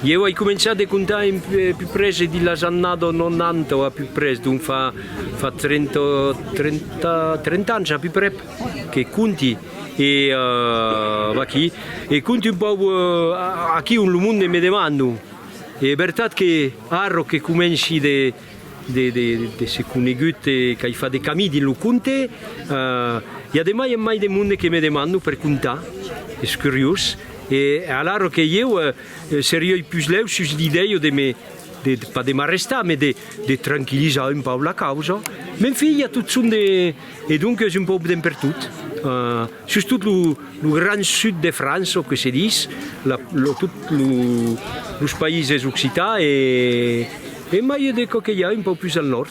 Ieu ai començat de comptar un puprés e di las annadas 90 o a puprés, donc fa 30 30 ans a puprès que compti e vaquí e compti un pauc aquí ont lo monde me demanda e vertat que Arro que comenci de se conegut e qu'ai fat de camí dins lo conte, i a de mai en mai de monde que me demanda per contar, es curiós, e alara que ieu serioi pus lèu sus l'idèia de me, pas de m'arrestar, mas de tranquillizar un pauc la causa. M'enfia tot son de. E donc es un pauc d'en pertot, sustot lo gran sud de França, o que se dis, tot los païses occitans e e mai de çò que i a un pauc pus al nòrd.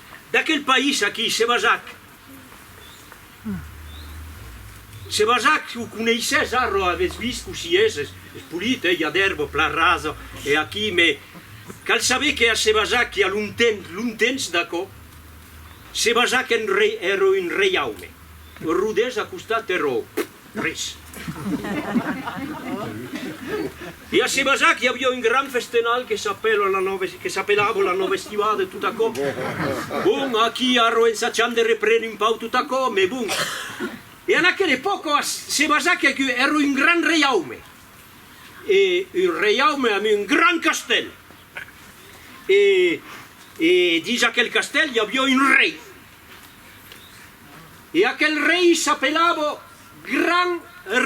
D'aquel país aquí, se basà'c. Se basà'c, o coneisses arrò, aves vist cossí es, es polit, eh, i a d'èrba plan rasa, e aquí, mès cal saber que a se basà'c i a longtemps, longtemps d'aquò, se basà'c un rei, èra un reiaume, Rodés a costat, eró. Ris. E a Sebazac i aviá un gran festenal que s'apèla la nòva, que s'apelava la nòva estivada e tot aquò. Bon, aquí arro ensacham de reprene un pau tot aquò, mès bon. E en aquela epòca a Sebazac ac èra un gran reiaume. E un reiaume amb un gran castèl. E e dins aquel castèl i aviá un rei. E aquel rei s'apelava Gran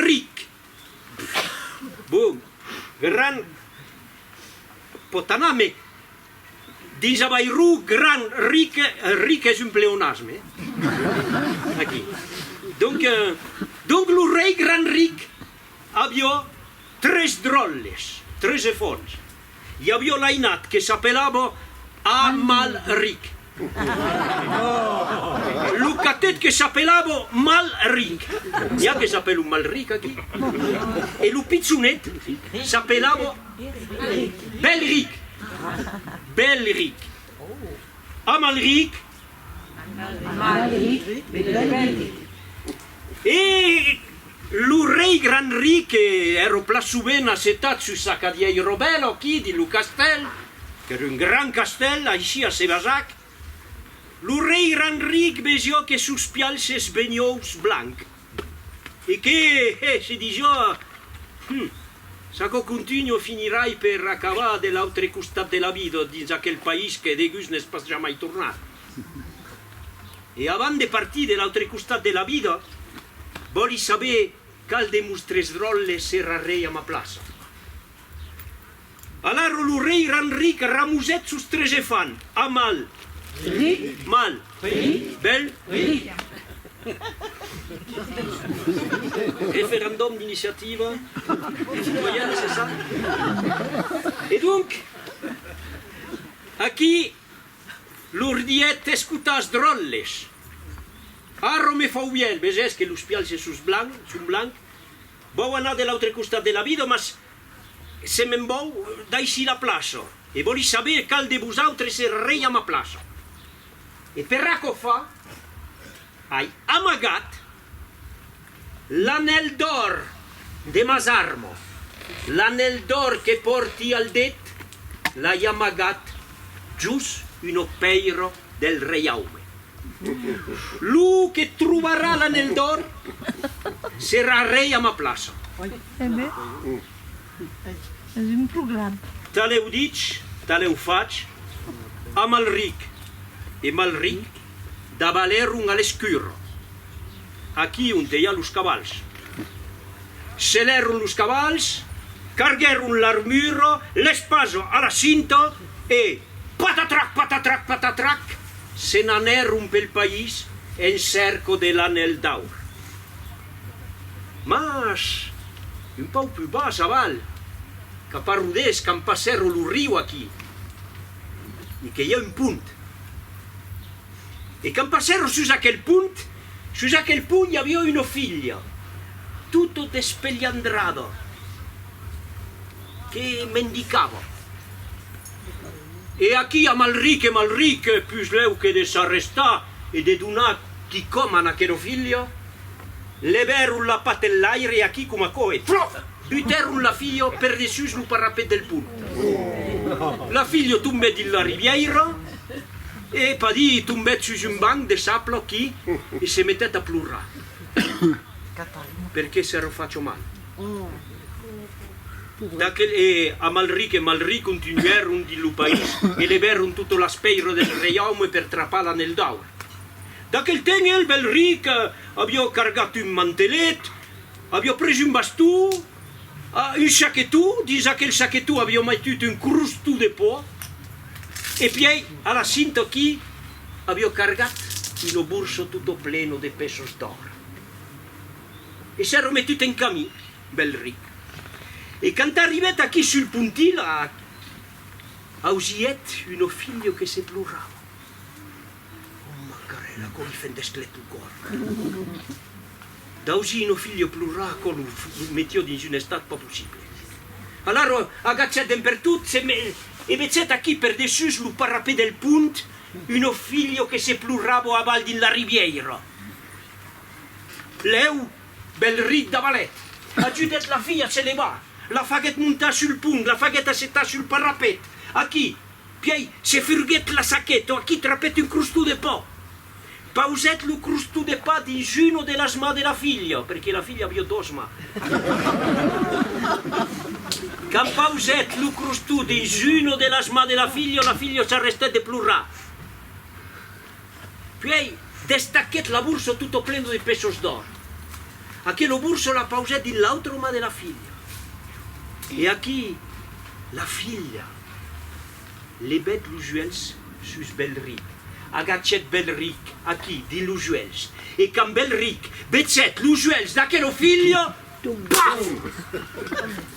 Ric. Bon, Gran pòt anar, mès dins Avairon Gran Ric, Ric es un pleonasme, aquí. Donc, donc lo rei Gran Ric Avió tres dròlles, tres efòns. I avió l'ainat que s'apelava Amalric. Lo catet que s'apelava Malrinc. N'i a que s'apèlan Malric aquí? E lo pitzonet s'apelava Bèlric. Bèlric. Amalric E lo rei gran rique ero pla sovent assetat sus sa cadièir robèla au quid di lo castèl, qu'ère un gran castèl, aishi a Sébazac. Lo rei gran ric vesió que sos pialhs s'esbeniós blancs. E qué hè se dijoa? Hum! S'aquò contunho finirai per acabar de l'autre costat de la vida dins aquel país que degús n'es pas jamai tornat. E avant de partir de l'autre costat de la vida, vòli saber cal de mostres dròlles serrarei a ma plaça. Alara lo rei Ranric ramosèt sos tres efan, a mal. Ric. Mal. Ric. Bèl. Ric. Referendòm d'iniciativa citoyèna, se ça? E donc, aquí lor dièt, escotàs, dròlles, arro me fauvièl, vesètz que los pials se sos blanc, son blanc, Vòu anar de l'autre costat de la vida, mas se me'n vòu, daishi la plaça. E vòli saber qual de vosautres es rei a ma plaça. E per aquò fa, ai amagat l'anèl d'òr de mas armo, l'anèl d'òr que pòrti al det, l'ai amagat jos una pèira del reiaume. Lo que trobarà l'anèl d'òr serà rei a ma plaça. Talèu dich, talèu fach, Amalric e Malric davalèron a l'escurra, aquí onte i a los cavals. Selèron los cavals, carguèron l'armura, l'espasa a la cinta e, patatrac, patatrac, patatrac, Se n'anèron pel país en cèrco de l'Anèl d'Aur. Mas, un pauc plus bas aval, cap a Rodés, quand passèron lo riu aquí, e que i a un pont. E quand passèron sus aquel pont, sus aquel pont i aviá una filha, tota despelhandrada, que mendicava. E aquí a Malric e Malric, pus lèu que de s'arrestar e de donar quicòm a n'aquero filha, levèron la pat enlaire e aquí coma aquò e, flòf! butèron la filha per dessús lo parapet del pont. La filha tombèt dins la ribièira e, padí, tombèt sus un banc de sapla aquí e se metèt a plorar perqué s'èra fach mal. D'aquel e Amalric e Malric continuèron dins lo país e levèron tota l'espèira del reiaume per trapar l'Anèl d'Aur. D'aquel temps el bèl ric aviá cargat un mantelet, aviá pres un bastó, un saquetó, dins aquel saquetó aviá metut un crostó de pò e pièi a la cinta aquí aviá cargat una borsa tota plena de peços d'òr. e s'è remetut en camin, Belric. E quand arribèt aquí sul pontilat, ausièt un ofilho que se plorava. Òm Macarèl, aquò li fendèsc lèt lo còr. D'ausir un ofilho plorar, aquò lo metió dins un estat pas possible. Alara agachèt en pertot, se me, e vechèt aquí per dessús lo parapet del pont un ofilho que se plorava aval dins la ribièira. Lèu, bèl rit d'avalet, ajudèt la filha a se levar, la faguèt montar sul pont, la faguèt assetar sul parapet, aquí, pièi se furguèt la saqueta, aquí trapèt un crostó de pa, pausèt lo crostó de pa dins una de las mans de la filha, perqué la filha aviá dos mans, quand pausèt lo crostó dins una de las mans de la filha, la filha s'arrestèt de plorar. Puèi, destaquèt la burso tutto pleno de pesos d'òr. Aquelo burso la pausèt dins l'autra mà de la filha. E aquí la filha levèt los uèlhs sus Belric, agachèt Belric aquí, dins los uèlhs, e quand Belric vesèt los uèlhs d'aquelo filho, Bam!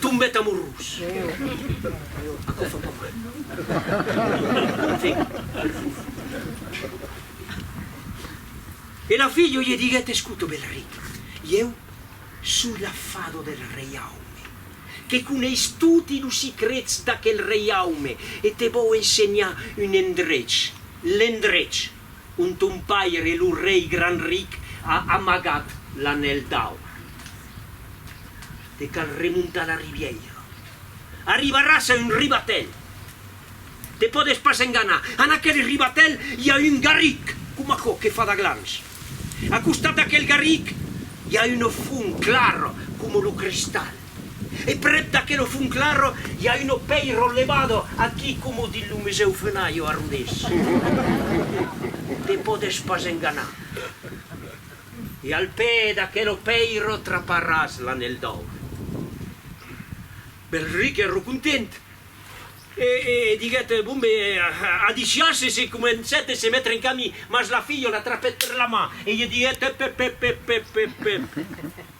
Tombèt amorós. Aquò fa pas mal. Bon vent al fum. E la filha lhe diguèt, Escota, bèl ric, ieu soi la fada del reiaume, que coneis toti los sicrets d'aquel reiaume e te vòu ensenhar un endrech, l'endrech ont ton paire, lo rei grand ric, a amagat l'anèl d'aur. Te cal remontar la ribièira. Arribaràs a un ribatèl. Te pòdes pas enganar. En aquel ribatèl i a un garric, coma aquò que fa d'aglans. A costat d'aquel garric i a una font clara coma lo cristal. E prèp d'aquelo funclaro i a uno pèiro levado aquí coma dins lo Musèu Fenayo a Rodés. Te pòdes pas enganar. E al pè d'aquelo pèiro traparàs l'anèl d'aur. Belric ero content e diguèt, Bon, be, adiciás e se comencèt e se metre en camin. Mas la filha l'atrapèt per la man e i diguèt, Ep, ep, ep, ep, ep, ep, ep.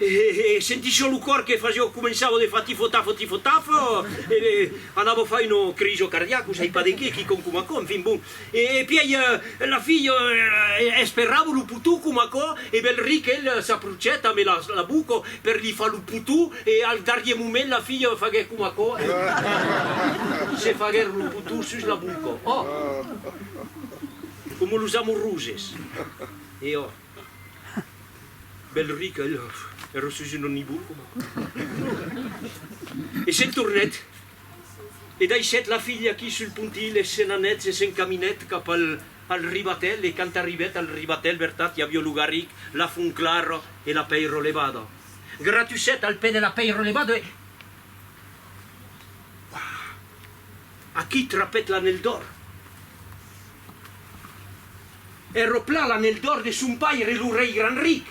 E sentissió lo còr que fasió, començava de far tifo-tafo, tifo-tafo, e anava far un crijo cardiaco, sai pas de qué, quicon coma aquò, enfin bon. E pièi la filha esperrava lo potou coma aquò, e bèl ric el s'aprochet amé la boca per li far lo potou, e al darrier moment la filha faguèt coma aquò, e se faguèron lo potou sus la boca. Ò! Coma los amoroses. E ò! Bèl ric, a Lhaf, èra sus un onibul coma aquò. E se'n tornèt, e daishèt la filha aquí sul pontilh, e se'n anèt, se se'n caminèt cap al ribatèl, e quand arribèt al ribatèl, vertat, i avió lo garric, la font clara e la pèira levada. Gratussèt al pè de la pèira levada e. Uah! Aquí trapèt l'anèl d'òr. e ropla l'anèl d'òr de son paire lo rei gran ric.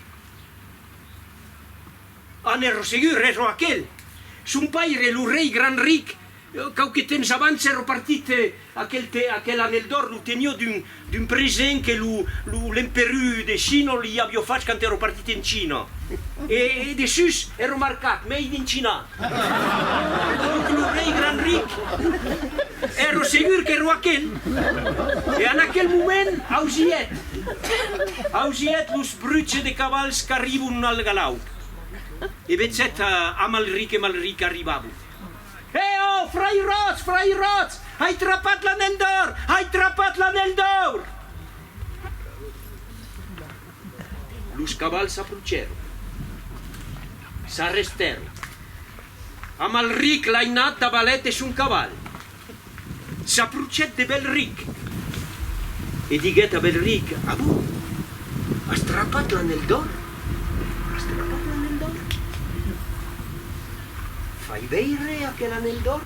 Anèl rosegur, re ro aquel. Son paire, lo rei gran ric, quauque temps abans è ropartit aquel te, aquel anèl d'òr lo tenió d'un d'un present que lo lo l'emperu de Chino li avió fach quand è ropartit en China. E e dessús è romarcat, Made in China. Donc lo rei gran ric è rosegur que roaquèn, e en aquel moment ausièt, ausièt los bruches de cavals qu'arribon al galaup, e vechèt a Malric e Malric arribabon. Hè, ò, frair Ròtz, frair Ròtz! Ai trapat l'anèl d'òur! Ai trapat l'anèl d'òur! Los cavals s'aprocèron. S'arrestèron. Amalric, l'ainat davalèt de son caval. S'aprocèt de Belric. E diguèt a Belric, A bon, as trapat l'anèl d'òr? As trapat l'anèl d'òr? Fai veire aquel anèl d'òr.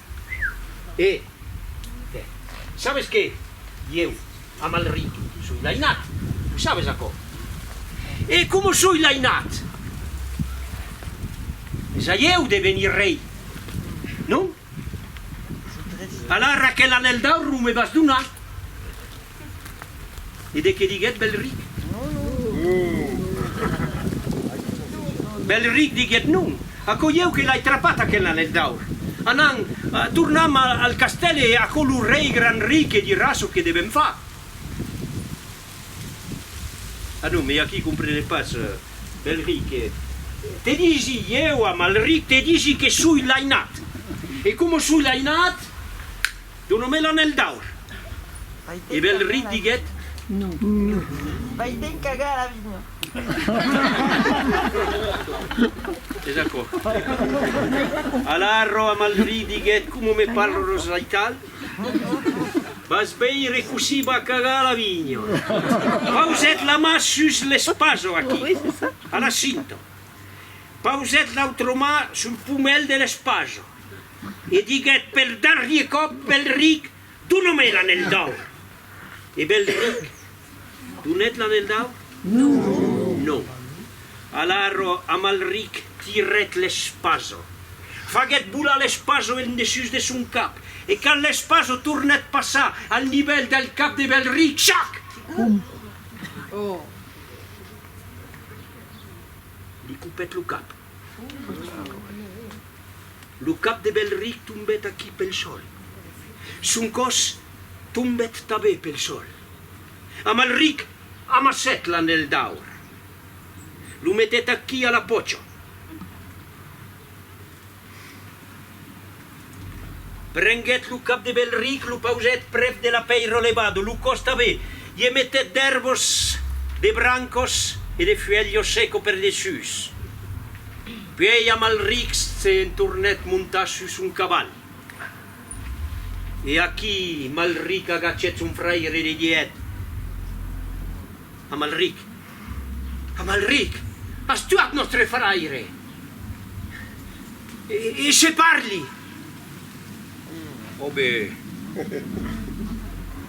E te. Sabes qué? Ieu, a mal ritu, soi lainat, o sabes aquò? E coma soi lainat! Es a ieu de venir rei, non? Alara quel anèl d'aur lo me vas donar, E de qué diguèt Belric? Belric diguèt non, aquò ieu que l'ai trapat aquel anèl d'aur. Anam, tornam al castèl e aquò lo rei gran ric dirà çò que devèm far. A non, me aquí comprenèt pas Belric. Te disi ieu, Amalric, te disi que soi l'ainat. E coma soi l'ainat. Dona-me l'anèl d'aur. E Bèlri diguèt, Non. Vai te'n cagar a la vinha. Es aquò. Alara Amalri diguèt, Coma me parles aital, vas veire cossí va cagar a la vinha. Pausèt la mà sus l'espaso, aquí, a la cinta. Pausèt l'autra mà sul pomèl de l'espaso. e diguèt per darrier còp, Belric, dona-me l'anèl d'aur! E Belric donèt l'anèl d'aur? Non. Alara Amalric tirèt l'espasa, faguèt volar l'espasa en dessús de son cap, e quand l'espasa tornèt passar al nivèl del cap de Belric, chac! Li copèt lo cap. Lo cap de Belric tombèt aquí pel sòl. Son còs tombèt tabé pel sòl. Amalric amassèt l'anèl d'aur. Lo metèt aquí a la pòcha. Prenguèt lo cap de Belric, lo pausèt prèp de la pèira levado, lo costave, i e metèt d'èrbos, de brancos e de fuèlhos seco per dessús. Puèi Amalric se entornèt montar sus son caval. E aquí Malric agachèt son fraire e li didèt, Amalric, Amalric, as tuat nòstre fraire! E se parli! Ò be!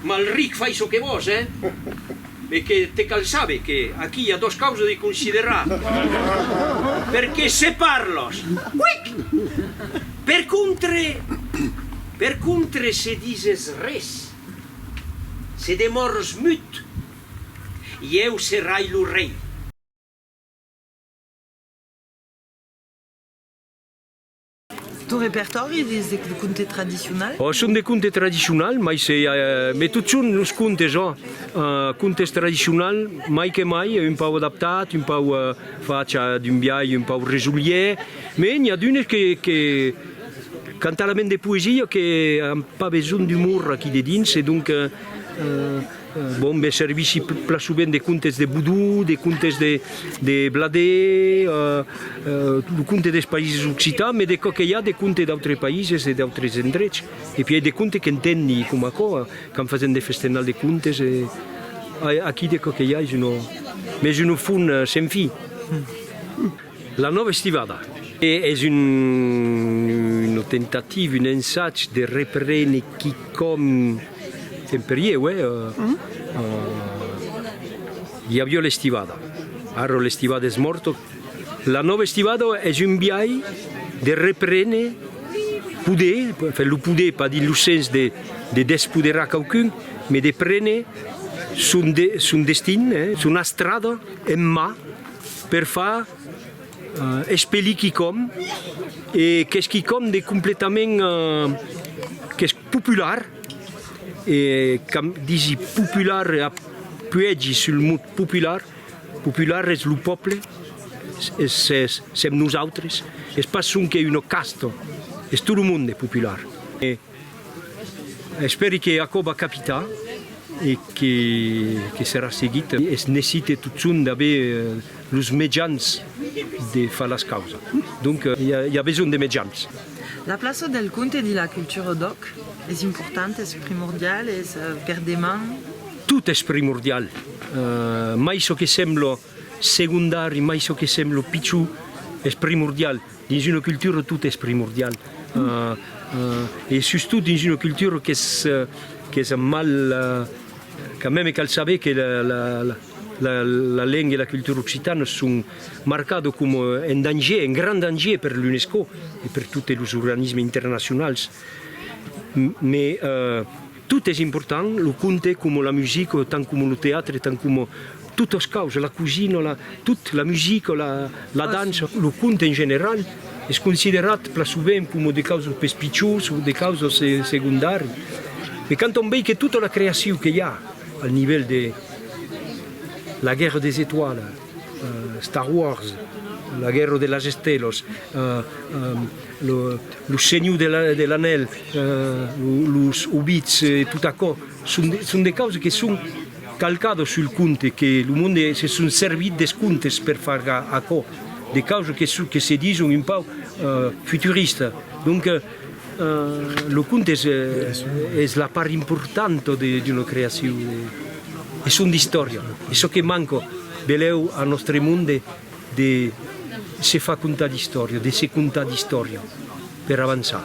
Malric, fai çò que vòs, eh? Be que te cal saber que aquí i a dos causes de considerar. Per que se parlòs! Quic! Per contre, per contre se dises res, se demòrs mut. Ieu serai lo rei. Ton repertòri es de conte tradicional? Ò, son de conte tradicional, mai se i a, me tot son los contes, ò, contes tradicional, mai que mai, un pauc adaptat, un pauc fach d'un biais un pauc resolier, me n'i a d'unes que, que, quant a la ment de poesia, que an pas besonh d'umor aquí dedins, e donc, Bon, be servissi plasubent de contes de Boudou, de contes de Bladé, lo conte des Païses Occitans, me de çò que i a de conte d'autres païses e d'autres endrets. E pièi de conte qu'entendi, coma aquò, quand fasèm de festenal de contes e aquí de çò que i a es una, mes una font sen fin. La nòva estivada es una temptativa, un ensag de reprene quicòm qu'en perieu, i avió l'estivada, ara l'estivada es mòrta, la nòva estivada es un biais de reprene, poder, enfin lo poder, pas dins lo sens de despoderar quauqu'un, mai de prene son destin, son astrada en mà. per far espelir quicòm e qu'es quicòm de completament qu'es popular e qu'am disi popular e apuègi sul mot popular, popular es lo pòble, sèm nosautres, es pas sonque una casta, es tot lo monde popular. Espèri que aquò va capitar e que serà seguit. Es necite totson d'aver los mejans de far las causas. Donc i a besonh de mejans. La plaça del conte dins la cultura d'òc es importanta, es primordiala, es per deman? Tot es primordial, mai çò que sembla. Segondari, mai çò que sèm lo pichon es primordial. Dins una cultura tot es primordial e sustot dins una cultura qu'es mal, quand meme cal saber que la lenga e la cultura occitana son marcado coma en danger, en grand danger per l'UNESCO e per totes los organismes internacionals. Tot es important, lo conte coma la musica, tant coma lo teatre, tant coma totas causas, la cosina, la, tot, la musica, la, la dança. Lo conte en general es considerat plan sovent coma de causas pes pichós o de causas segondari, me quand on vei que tota la creacion que i a al nivèl de La guerre des étoiles, Star Wars, La guerra de las estelas, Lo senhor de l'anèl, Los Hobbits e tot aquò son de causas que son calcadas sul conte, que lo monde se son servit des contes per far aquò, de causas que se dison un pauc futuristas. Lo conte es la part importanta d'una creacion, es son istòria, es çò que manca belèu a nòstre monde de se far contar d'istòria, de se contar d'istòria per avançar.